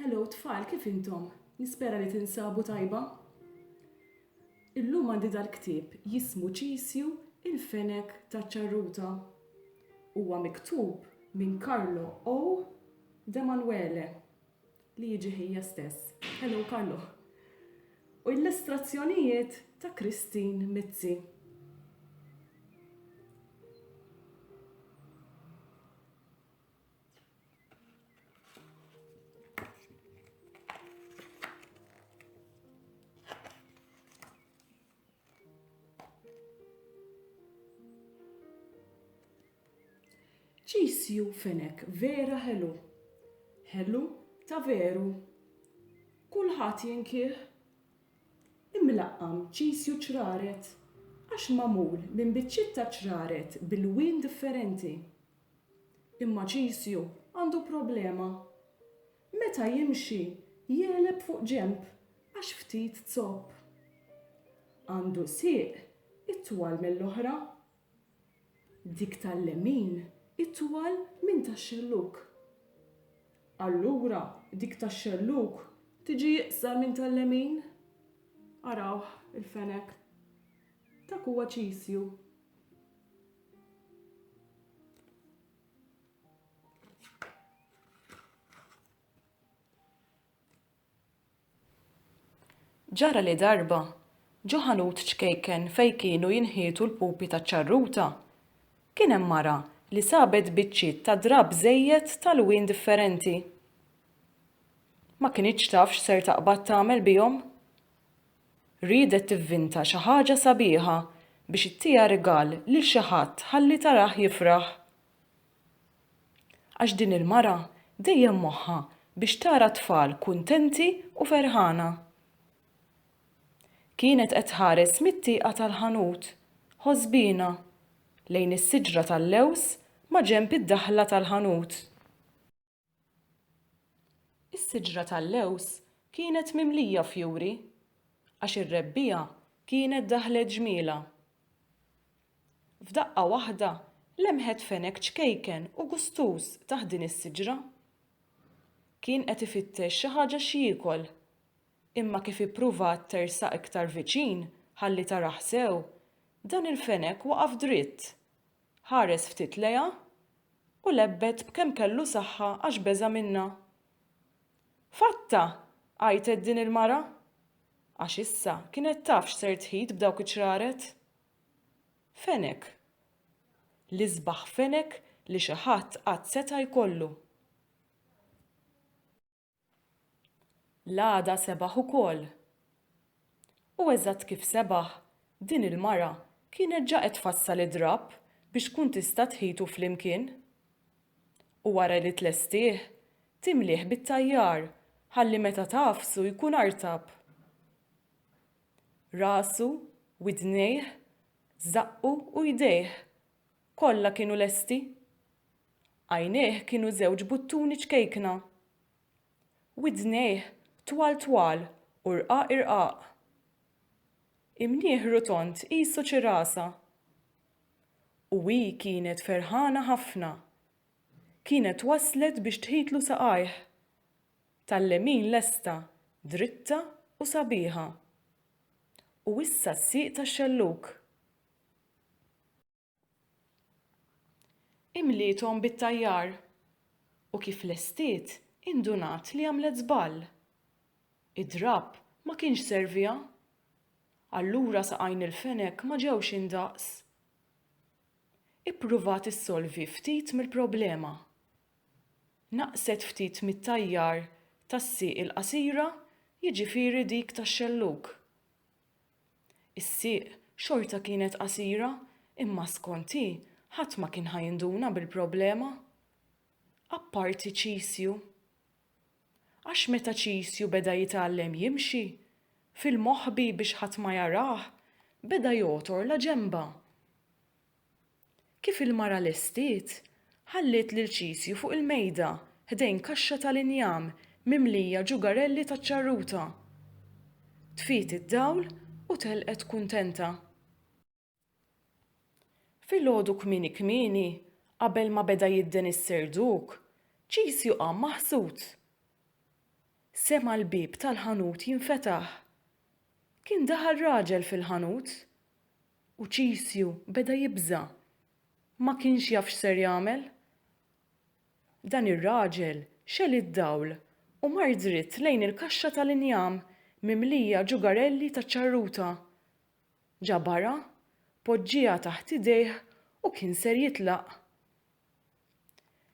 Hello tfal, kif intom? Nispera li tinsabu tajba? Illum għandi dal-ktieb jismu Ċisju il-fenek ta' ċarruta. Huwa miktub minn Carlo O. Demanuele. li jiġi ħija stess. Hello Carlo. U illustrazzjonijiet ta' Christine Mizzi. Cheese you Fenech vera ħelu. Ħelu ta' veru. Kulħadd jinkieh. Imlaqqam cheese you ċraret għax magħmul minn biċċiet ta' ċraret b'ilwien differenti. Imma cheese you għandu problema. Meta jimxi, jegħleb fuq ġenb għax ftit zopp. Għandu sieq itwal mill-oħra. Dik tal-lemin itwal minn tax-xellug. Allura dik tax-xellug tiġi iqsar minn tal-lemin. Arawh, il-fenek. Dak huwa ċisju. Ġara li darba, ġo ħanut ċkejken fejn kienu jinħietu l-pupi taċ-ċarruta, kien hemm mara li sabet biċċiet ta' drapp żejjed t'alwien differenti. Ma kinitx taf x'ser taqbad tagħmel bihom. Riedet tivvinta xi ħaġa sabiħa biex ittiha rigal lil xi ħadd ħalli tarah jifraħ. Għax din il-mara dejjem moħħha biex tara t-tfal kuntenti u ferħana. Kienet qed tħares mit-tieqa tal-ħanut, ħosbiena, lejn is-siġra tal-lewż maġenb id-daħla tal-ħanut. Is-siġra tal-lewż kienet mimlija fjuri, għax ir-rebbiegħa kienet daħlet ġmielha. F'daqqa waħda lemħet fenek ċkejken u gustuż taħt din is-siġra. Kien qed ifittex xi ħaġa x'jiekol, imma kif ippruvat tersaq iktar viċin ħalli tarah sew, dan il-fenek waqaf dritt Ħares ftit lejha u lebbet b'kemm kellu saħħa għax beża' minnha. Fatta! għajtet din il-mara. Għax issa kienet taf x'ser tħit b'dawk iċ-ċraret. Fenek. L-isbaħ fenek li xi ħadd qatt seta' jkollu. L-għada sebaħ ukoll. U eżatt kif sebaħ, din il-mara kienet ġa qed tfassal id-drapp biex tkun tista' tħitu flimkien. U wara li tlestih, timlieh bit-tajjar ħalli meta tagħfsu jkun artab. Rasu, widnejh, żaqqu u jdejh Kollha kienu lesti. Għajnejh kienu żewġ buttuni ċkejkna. Widnejh twal twal u rqaq irqaq. Imniegħ rotond qisu ċirasa. U hi kienet ferħana ħafna. Kienet waslet biex tħitlu saqajh. Tal-lemin lesta, dritta u sabiħa. U issa s-sieq tax-xellug. Imliethom bit-tajjar. U kif lestiet, indunat li għamlet żball. Id-drapp ma kienx serviha. Allura saqajn il-fenek ma ġewx indaqs. Ippruvat issolvi ftit mill-problema. Naqset ftit mit-tajjar tas-sieq il-qasira, jiġifieri dik tax-xellug. Is-sieq xorta kienet qasira imma skont hi ħadd ma kien ħa jinduna bil-problema. Apparti Ċisju. Għax meta Ċisju beda jitgħallem jimxi, fil-moħbi biex ħadd ma jarah, beda jogħtor la ġenbha. Kif il-mara lestiet, ħalliet lil Ċisju fuq il-mejda ħdejn kaxxa tal-injam mimlija ġugarelli taċ-ċarruta. Tfiet id-dawl u telqet kuntenta. Filgħodu kmieni kmieni, qabel ma beda jidden is-serduk, Ċisju qam maħsud. Sema' l-bieb tal-ħanut jinfetaħ. Kien daħal raġel fil-ħanut. U Ċisju beda jibża'. Ma kienx jaf x'ser jagħmel. Dan ir-raġel xegħel id-dawl u mar dritt lejn il-kaxxa tal-injam mimlija ġugarelli taċ-ċarruta. Ġabarha, poġġieha taħt idejh u kien ser jitlaq.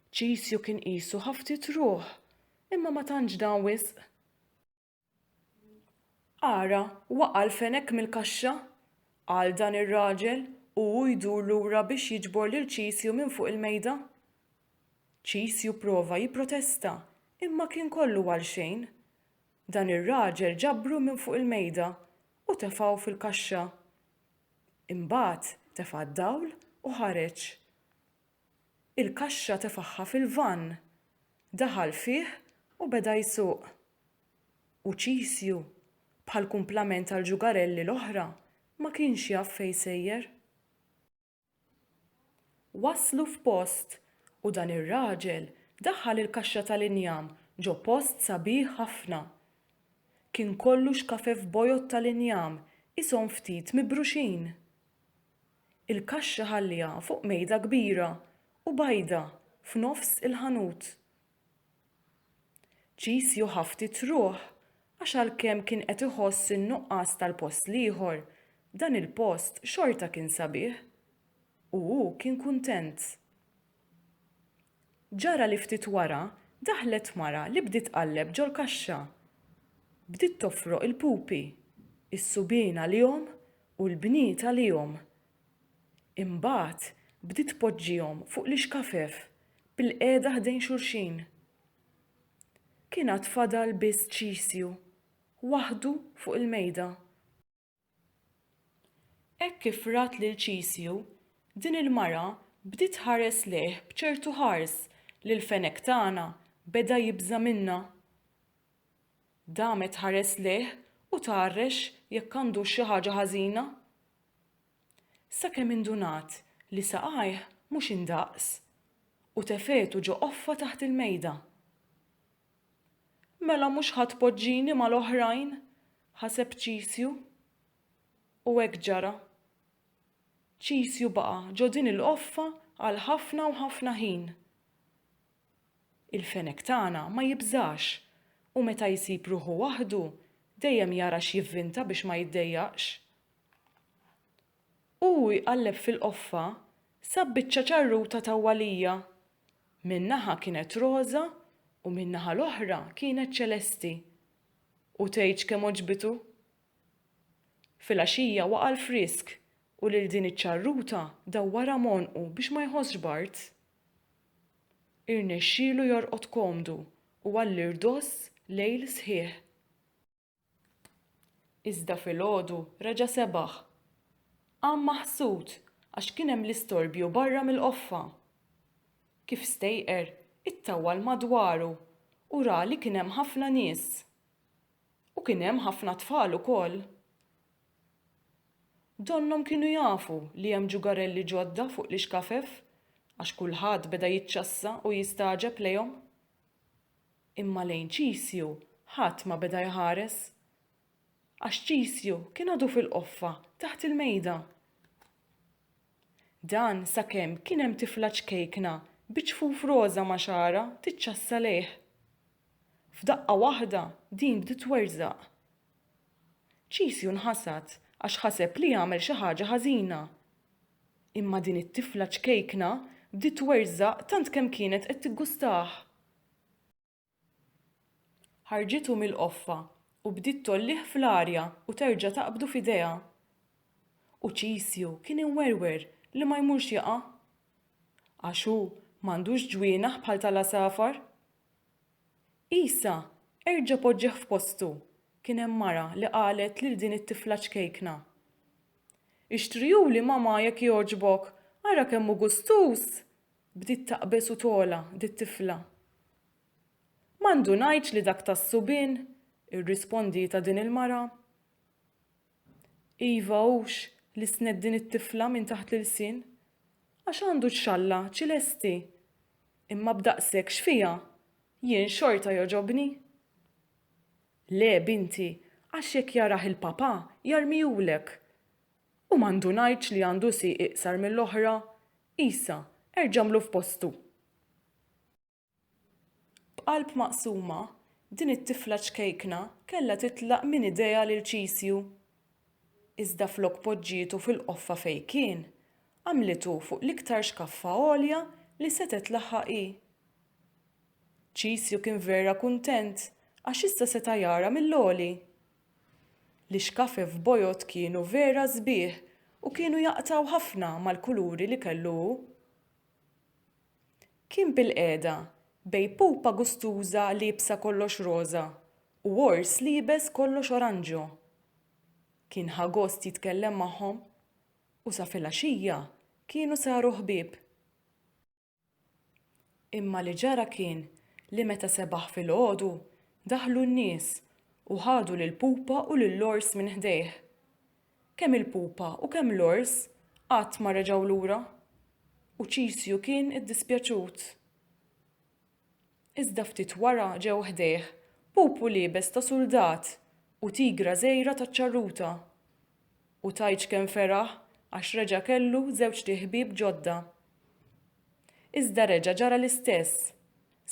Ċisju kien qisu ħa ftit ruħ, imma ma tantx dan wisq. Ara, waqa' l-fenek mill-kaxxa! qal dan ir-raġel u hu jdur lura biex jiġbor lil Ċisju minn fuq il-mejda. Ċisju prova jipprotesta, imma kien kollu għalxejn. Dan ir-raġel ġabru minn fuq il-mejda u tefgħu fil-kaxxa. Imbagħad tefa' d-dawl u ħareġ. Il-kaxxa tefagħha fil-vann. Daħal fih u beda jsuq. u Ċisju, bħall-kumplament għall-ġugarelli l-oħra, ma kienx jaf fejn sejjer. Waslu f'post u dan ir-raġel daħħal il-kaxxa tal-injam ġo post sabiħ ħafna. Kien kollu xkafef bojod tal-injam qishom ftit mibruxin. Il-kaxxa ħalliha fuq mejda kbira u bajda f'nofs il-ħanut. Qis jew ħa ftit ruħ għax għalkemm kien qed iħoss in-nuqqas tal-post l-ieħor, dan il-post xorta kien sabiħ u hu kien kuntent. Ġara li ftit wara daħlet mara li bdiet tqalleb ġol-kaxxa. Bdiet tofroq il-pupi, is-subien għalihom u l-bniet għalihom Imbagħad bdiet tpoġġihom fuq l-ixkafef bilqiegħda ħdejn xulxin. Kien għad fadal biss Ċisju waħdu fuq il-mejda. Hekk kif rat lil Ċisju, din il-mara bdiet tħares lejh b'ċertu ħars li l-fenek tagħna beda jibża' minnha. Damet tħares lejh u tgħarrex jekk għandux xi ħaġa ħażina. Sakemm indunat li saqajh mhux indaqs u tefegħtu ġo qoffa taħt il-mejda. Mela mhux ħa tpoġġini mal-oħrajn? ħaseb Ċisju. U hekk ġara. Ċisju baqa' ġo din il-qoffa għal ħafna u ħafna ħin. Il-fenek tagħna ma jibżax u meta jsib ruħu waħdu dejjem jara x'jivvinta biex ma jiddejjaqx. Hu jqalleb fil-qoffa, sab biċċa ċarruta tawwalija. Minn naħa kienet roża u min-naħa l-oħra kienet ċelesti. U tgħidx kemm għoġbitu! Filgħaxija waqa' l-frisk u lil din iċ-ċarruta dawwarha m'għonqu biex ma jħossx b'art. Irnexxielu jorqod komdu u għall-irdoss lejl sħiħ. Iżda filgħodu reġa' sebaħ. Qam maħsud għax kien hemm l-istorbju barra mill-qoffa. Kif stejqer, ittawwal madwaru u ra li kien hemm ħafna nies. U kien hemm ħafna tfal ukoll. Donnhom kienu jafu li hemm ġugarelli ġodda fuq l-ixkafef għax kulħadd beda jiċċassa u jistagħġeb lejhom. Imma lejn Ċisju ħadd ma beda jħares. Għax Ċisju kien għadu fil-qoffa taħt il-mejda. Dan sakemm kien hemm tifla ċkejkna bi ċfuf roża ma' xagħarha tiċċassa lejh. F'daqqa waħda din bdiet twerżaq. Ċisju nħasad għax ħaseb li għamel xi ħaġa ħażina. Imma din it-tifla ċkejkna bdiet twerżaq tant kemm kienet qed tiggustah. Ħarġithu mill-qoffa u bdiet tgħollih fl-arja u terġa' taqbdu f'idejha. U Ċisju kien imwerwer li ma jmurx jaqa'. Għax hu m'għandux ġwienaħ bħal tal-għasafar. Għisa erġa' poġġieh f'postu, kien hemm mara li qalet lil din it-tifla ċkejkna, Ixtrihuli mamà jekk jogħġbok, ara kemm hu gustuż! Bdiet taqbeż u togħla dit-tifla. Ma ndunajtx li dak tas-subien, irrispondietha din il-mara. Iva hux li snedd din it-tifla minn taħt l-ilsien, għax għandu ċ-xalla ċilesti, imma b'daqshekk x'fiha, jien xorta jogħġobni. Le, binti, għax jekk jarah il-papà, jarmihulek. U ma ndunajtx li għandu sieq iqsar mill-oħra? Isa, erġa' għamlu f'postu! B'qalb maqsuma, din it-tifla ċkejkna kellha titlaq minn idejha lil Ċisju. Iżda flok poġġietu fil-qoffa fejn kien, għamlitu fuq l-iktar xkaffa għolja li setgħet tlaħħaq hi. Ċisju kien vera kuntent għax issa seta' jara mill-għoli. L-ixkafi f'bojod kienu vera sbieħ u kienu jaqtgħu ħafna mal-kuluri li kellu hu. Kien bilqiegħda bejn pupa gustuża liebsa kollox roża u ors liebes kollox oranġo. Kien ħa gost jitkellem magħhom u sa filgħaxija kienu saru ħbieb. Imma li ġara kien li meta sebaħ filgħodu, daħlu n-nies u ħadu lill-pupa u lill-ors minn ħdejh. Kemm il-pupa u kemm l-ors qatt ma reġgħu lura, u Ċisju kien iddispjaċut. Iżda ftit wara ġew ħdejh pupu liebes ta' suldat u tigra żgħira taċ-ċarruta. U tgħidx kemm feraħ għax reġa' kellu żewġt iħbieb ġodda. Iżda reġa' ġara l-istess,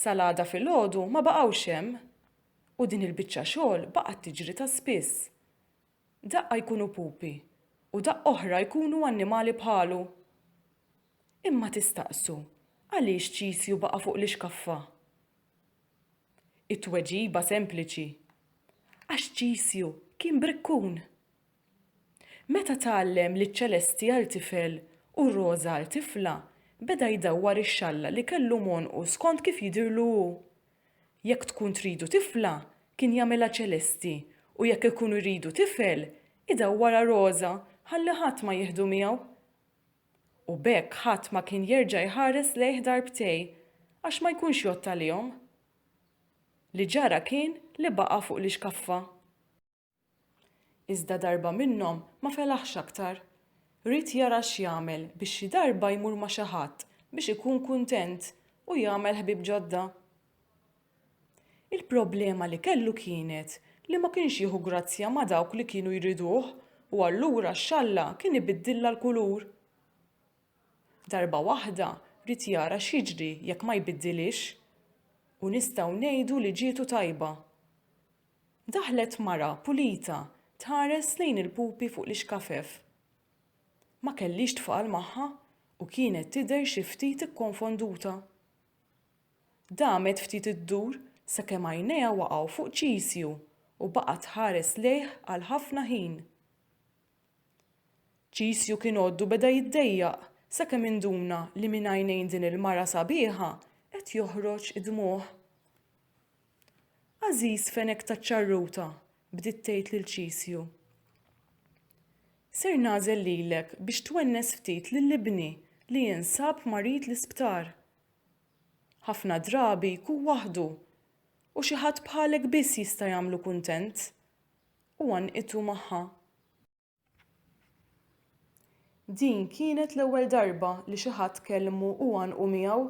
sal-għada filgħodu ma baqgħux hemm! U din il-biċċa xogħol baqgħet tiġri ta' spiss. Daqqa jkunu pupi u daqqa oħra jkunu annimali bħalu. Imma tistaqsu għaliex Ċisju baqa' fuq l-ixkaffa? It-tweġiba sempliċi, għax Ċisju kien brikkun. Meta tgħallem li ċ-ċelesti għal tifel u r-roża għal tifla, beda jdawwar ix-xalla li kellu m'għonqu skont kif jidhirlu hu. Jekk tkun tridu tifla, kien jagħmilha ċelesti, u jekk ikun iridu tifel, idawwarha roża ħalli ħadd ma jieħdu miegħu. U b'hekk ħadd ma kien jerġa' jħares lejh darbtej, għax ma jkunx jgħodd għalihom. Li ġara kien li baqa' fuq l-ixkaffa. Iżda darba minnhom ma felaħx aktar. Ried jara x'jagħmel biex xi darba jmur ma' xi ħadd biex ikun kuntent u jagħmel ħbieb ġodda. Il-problema li kellu kienet li ma kienx jieħu grazzja ma' dawk li kienu jriduh u allura x-xalla kien ibiddilha l-kulur. Darba waħda ried jara x'jiġri jekk ma jbiddilhiex u nistgħu ngħidu li ġietu tajba. Daħlet mara pulita tħares lejn il-pupi fuq l-ixkafef. Ma kellhiex tfal magħha u kienet tidher xi ftit ikkonfonduta. Damet ftit iddur sakemm għajnejha waqgħu fuq Ċisju u baqgħet tħares lejh għal ħafna ħin. Ċisju kien għoddu beda jiddejjaq sakemm induna li minn għajnejn din il-mara sabiħa qed joħroġ id-dmugħ. Għażiż fenek taċ-ċarruta, bdiet tgħid lil Ċisju. Ser nagħżel lilek biex twennes ftit lil ibni li jinsab marid l-isptar. Ħafna drabi jkun waħdu u xi ħadd bħalek biss jista' jagħmlu kuntent. u għannqitu magħha. Din kienet l-ewwel darba li xi ħadd kellmu u għannqu miegħu,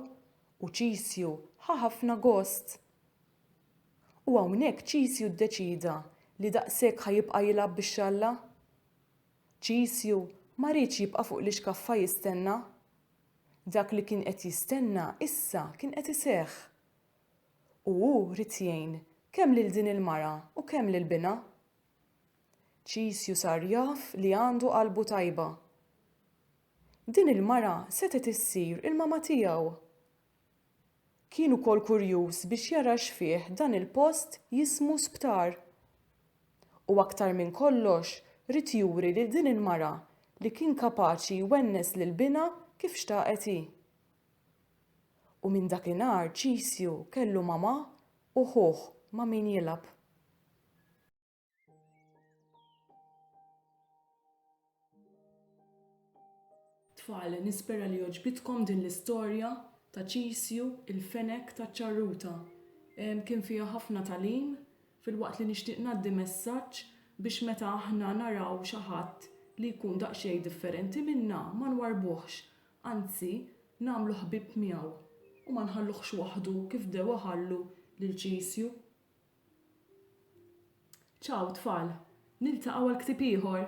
u Ċisju ħa ħafna gost. U hawnhekk Ċisju ddeċieda li daqshekk ħa jibqa' jilgħab bix-xalla. Ċisju ma riedx jibqa' fuq l-ixkaffa jistenna. Dak li kien qed jistenna issa kien qed iseħħ. U hu ried jgħin kemm lil din il-mara u kemm lil binha. Ċisju sar jaf li għandu qalbu tajba. Din il-mara setgħet issir il-mama tiegħu. Kien ukoll kurjuż biex jara x'fih dan il-post jismu sptar. U aktar minn kollox ried juri lil din il-mara li kien kapaċi jwennes lil binha kif xtaqet hi. U minn dakinhar Ċisju kellu mamà u ħuh ma' min jilgħab. Tfal, nispera li għoġbitkom din l-istorja ta' Ċisju, il-fenek taċ-ċarruta. Kien fiha ħafna tagħlim, filwaqt li nixtieq ngħaddi messaġġ biex meta aħna naraw xi ħadd li jkun daqsxejn differenti minna ma nwarrbuhx, anzi nagħmlu ħbieb miegħu u ma nħalluhx waħdu kif bdew iħallu lil Ċisju. Ċaw tfal, niltaqgħu għal ktieb ieħor!